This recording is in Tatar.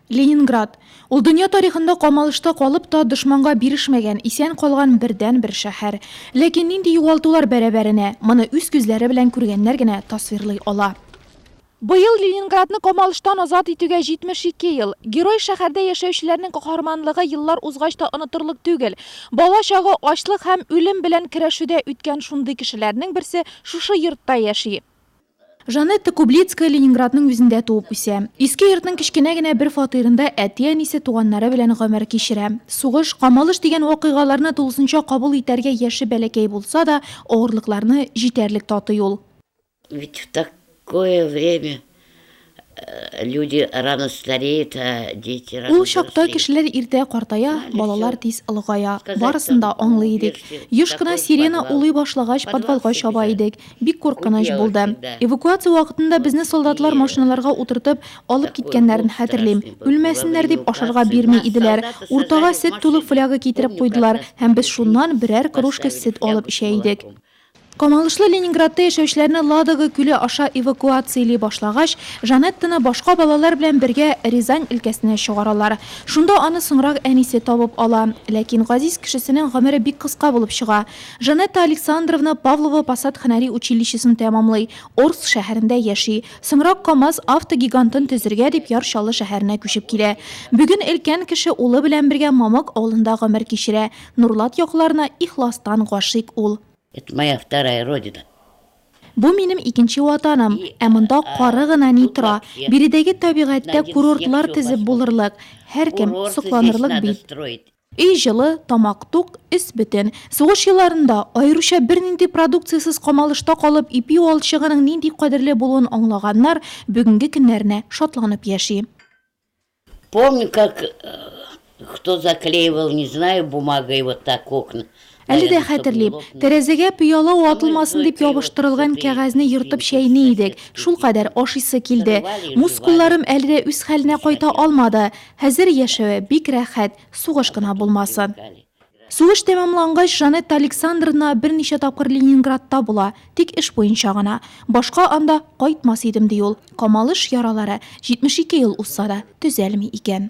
Ленинград. Ул дөнья тарихында камалышта калып та, дошманга бирешмәгән, исән калган бердәнбер шәһәр. Ләкин нинди югалтулар бәрабәренә, моны үз күзләре белән күргәннәр генә тасвирлый ала. Быел Ленинградны камалыштан азат итүгә 72 ел. Герой шәһәрдә яшәүчеләрнең каһарманлыгы еллар узгач та онытырлык түгел. Бала чагы ачлык һәм үлем белән көрәшүдә үткән шундый кешеләрнең берсе шушы йортта яши. Жанетта Кублицкая Ленинградның үзендә туып үсә. Иске йортның кечкенә генә бер фатирында әти-әнисе, туганнары белән гомер кичерә. Сугыш, камалыш дигән вакыйгаларны тулысынча кабул итәргә яше бәләкәй булса да, авырлыкларны җитәрлек татый ул. Ведь в такое время Люди рано стареют, а дети рано Ул чакта взрослеют. кешеләр иртә картая, балалар тиз олыгая. Барысын да аңлый идек. Еш кына сирена улый башлагач, подвалга чаба идек. Бик куркыныч булды. Эвакуация вакытында безне солдатлар машиналарга утыртып, алып киткәннәрен хәтерлим. Үлмәсеннәр дип, ашарга бирми иделәр. Уртага сөт тулы фляга китереп куйдылар, һәм без шуннан берәр кружка сөт алып эчә идек. Камалышлы Ленинградта яшәүчеләрне Ладога күле аша эвакуацияли башлагач, Жанеттаны башка балалар белән бергә Рязань өлкәсенә чыгаралар. Шунда аны соңрак әнисе табып ала. Ләкин газиз кешесенең гомере бик кыска булып чыга. Жанетта Александровна Павлова Посад һөнәри училищесын тәмамлый, Орск шәһәрендә яши. Соңрак КАМАЗ автогигантын төзергә дип Яр Чаллы шәһәренә күчеп килә. Бүген өлкән кеше улы белән бергә Мамык авылында гомер кичерә. Нурлат якларына ихластан гашыйк ул. Это моя вторая родина. Бу минем икенче ватаным, ә монда кары гына ни тора. Биредәге табигатьтә курортлар тезеп булырлык, һәркем сокланырлык бит. Өй җылы, тамак тук, өс бөтен. Сугыш елларында, аеруча бернинди продукциясез камалышта калып ипи валчыгының нинди кадерле булуын аңлаганнар бүгенге көннәренә шатланып яши. Помню, как э, кто заклеивал, не знаю, бумагой вот так окна. Әле дә хәтерлим. Тәрәзәгә пыяла атылмасын дип ябыштырылган кәгазьне ертып чәйни идек. Шул кадәр ашыйсы килде. Мускулларым әле дә үз хәленә кайта алмады. Хәзер яшәве бик рәхәт, сугыш кына булмасын. Сугыш тәмамлангач, Жанетта Александровна берничә тапкыр Ленинградта була, тик эш буенча гына. Башка анда кайтмас идем, ди ул. Камалыш яралары, 72 ел узса да, төзәлми икән.